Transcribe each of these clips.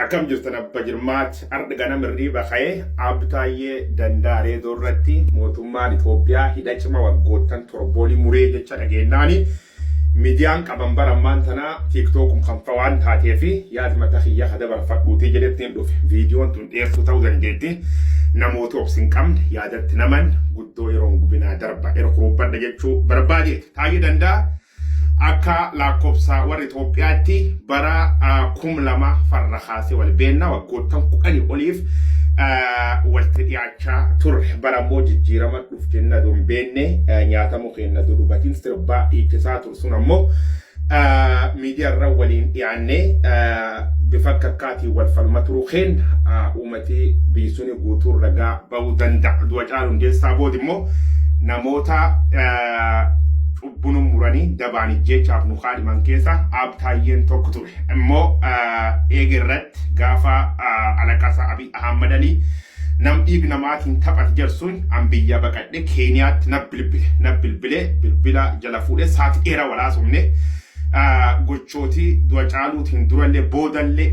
Akkam jirtan abba jirmaat ardha ganam hirriiba ka'e Aab Taayyee Dandaa Reedoo irratti mootummaan Itoophiyaa hidha cima waggoottan torboolii muree jecha dhageennaani miidiyaan qaban bara ammaan tanaa tiiktookum kan fa waan taatee fi yaad mata kiyya ka dabarfadhuutii jedhettiin dhufe viidiyoon tun dheertuu ta'uu dandeetti namoota obsi hin qabne yaadatti naman guddoo yeroon gubinaa darba erkuruubbadha jechuu barbaadeeti Taayyee Dandaa Akka laakkobsa warra Itoophiyaatti bara kum lama farra kaasee wal beenna waggoottan kudhanii oliif walti dhiyaachaa turre. Bara immoo jijjiirama dhuf jenna don beenne nyaatamu keenna dudubatiin sirbaa dhiichisaa tur sun ammoo miidiyaarra waliin dhiyaannee bifa akka akkaatiin wal falma turuu keenna uumatii biyyi suni guutuun ragaa ba'uu danda'a. Du'a Caaluu Hundeessaa booda immoo namoota Buna muranii dabaan ijjeechaaf nu kaadhiman keessa Aab Taayyeen tokko ture. Immoo eega irratti gaafa alaqasa Abiy Ahmad Ali nam dhiig namaatiin taphate jarsuun an biyyaa baqadhe Keeniyaatti na bilbile. Na bilbile bilbila jala fuudhe saati dheera walaasofne. Gochooti du'a caaluutiin durallee boodallee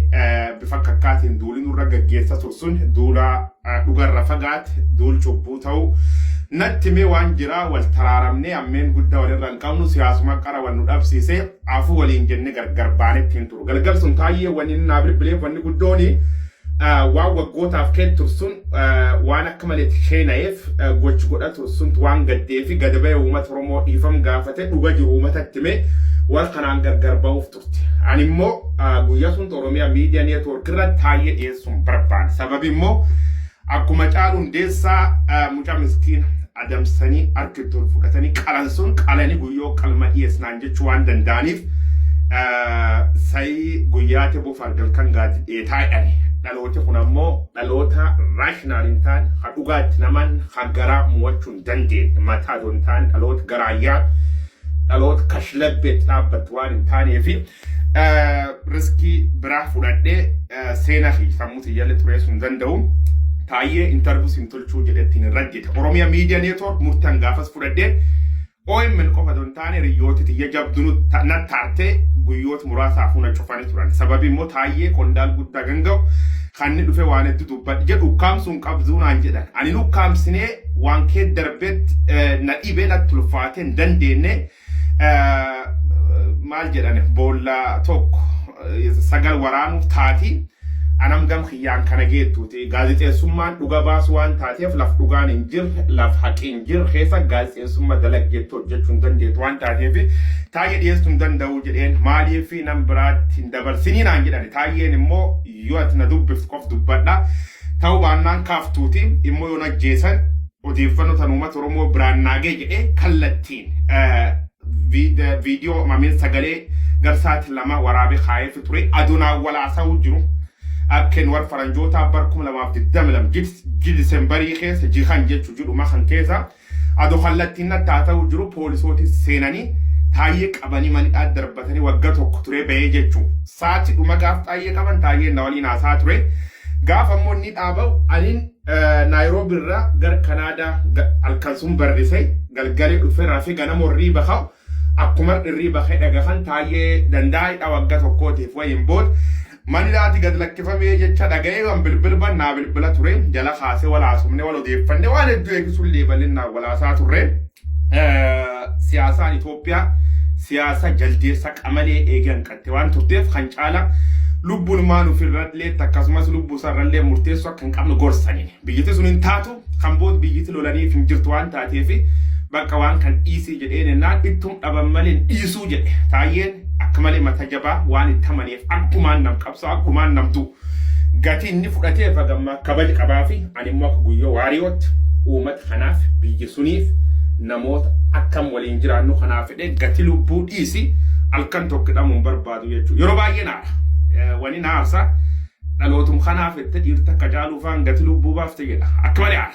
bifa kakkaatiin duuli nurra gaggeessa tursun duula dhugarra fagaat duul cubbuu ta'u natti mee waan jiraa wal taraaramnee ammeen gudda walirra hin qabnu siyaasuma qara wal nu dhabsiise afu waliin jenne gargar baanetti hin turu galgal sun taayyee wanni inni naa bilbileef wanni guddooni waan waggootaaf kee tursun waan akka maleetti sheenayeef gochi godha tursuntu waan gaddeefi gada ba'e uummata Oromoo dhiifam gaafate dhuga jiru uummatatti mee wal kanaan gargar ba'uuf Ani immoo guyyaa sun Oromiyaa miidiyaa neetwoork irra taa'ee dhiyeessuun barbaade. Sababi immoo akkuma caalu hundeessaa mucaa miskiina adamsanii harkatti ol fudhatanii qalan sun qalanii guyyoo qalma dhiyeessinaan jechuu waan danda'aniif sayii guyyaa teboo fargal kan gaati dheetaa jedhani. Dhalooti kun ammoo dhaloota raashinaal hin taane kan dhugaatti naman kan garaa mo'achuu hin dandeenye mataa osoo hin taane dhaloota garaayyaa dhaloota kashlabbeetti dhaabbattu waan hin taaneefi riskii biraa fudhadhee seena fi sammuu tiyyaallee xureessuu hin danda'u. Taayyee intarvuu sin tolchuu jedhettiin hin raggite. Oromiyaa miidiyaa neetwoork murtan gaafas fudhadhee OMN qofa don taane riyyooti tiyya jabdunu na taartee guyyoota muraasaaf huna cufanii turan. Sababi immoo taayyee qondaal guddaa ganga'u kan inni dhufe waan hedduu dubbadhe jedhu ukkaamsuun qabduu naan jedhan. Ani ukkaamsinee waan kee darbetti na dhibee natti ulfaatee hin dandeenye maal jedhan boolla tokko sagal waraanuuf taati anam gam kiyyaan kana geettuuti gaazexeessummaan dhuga baasu waan taateef laf dhugaan hin jirre laf haqi hin jirre keessa gaazexeessummaa dalaggeetti hojjechuu hin dandeettu waan taateef taayee dhiyeessuu hin danda'u jedheen maaliif nam biraatti hin dabarsinii naan jedhan taayeen immoo yoo ati na dubbiftu qof dubbadha Ta'uu baannaan kaaftuuti immoo yoon ajjeesan odeeffannoo tan uummata Oromoo biraan naagee jedhee kallattiin viidiyoo mamiin sagalee garsaati lama waraabee kaayeefi ture adonaa walaasa'uu jiru. Akkeen war faranjootaa bar 2022 jid Disembarii keessa jihan jechu jidhuma kan keessa Ado kallattiin natti haa ta'uu jiru poolisooti seenanii Taayyee qabanii manidhaa darbatanii wagga tokko turee ba'ee jechu. Saati dhuma gaaf Taayyee qaban Taayyeen na waliin haasaa ture. Gaaf ammoo inni dhaaba'u anin Naayiroobi irraa gar Kanaadaa halkan sun barrise galgalee dhufe rafe ganama warrii baka'u akkuma irrii bakee dhagahan Taayyee dandaa'idha wagga tokkootiif wayiin booda Manilaati gad lakkifamee jecha dhaga'ee waan bilbilban naa bilbila ture jala kaasee wal haasofne wal odeeffanne waan hedduu eegisuullee bal'innaan wal haasaa turre. Siyaasaan Itoophiyaa siyaasa jaldeessa qamalee eegee hanqatte waan turteef kan caala lubbuun maan ofirralleetti akkasumas lubbuu isaarrallee murteessuu akka hin qabne gorsaniin biyyatti sun hin taatu kan bood biyyiti lolaniif hin jirtu waan taateef bakka waan kan dhiisii jedhee jennaan ittum dhaban malee hin dhiisuu jedhe taayyeen akka malee mata jabaa waan itti amaneef akkumaan nam qabsaa akkumaan nam du'u gatii inni fudhatee fagammaa kabaji qabaa fi ani immoo akka guyyoo waariyootti uummata kanaaf biyya suniif namoota akkam waliin jiraannu kanaaf fedhee gatii lubbuu dhiisi halkan tokko dhamuun barbaadu jechuudha yeroo baay'ee naara wani naarsa Dhalootum kanaa fette dhiirta akka caaluu faan gati lubbuu baafte jedha. Akka malee aara.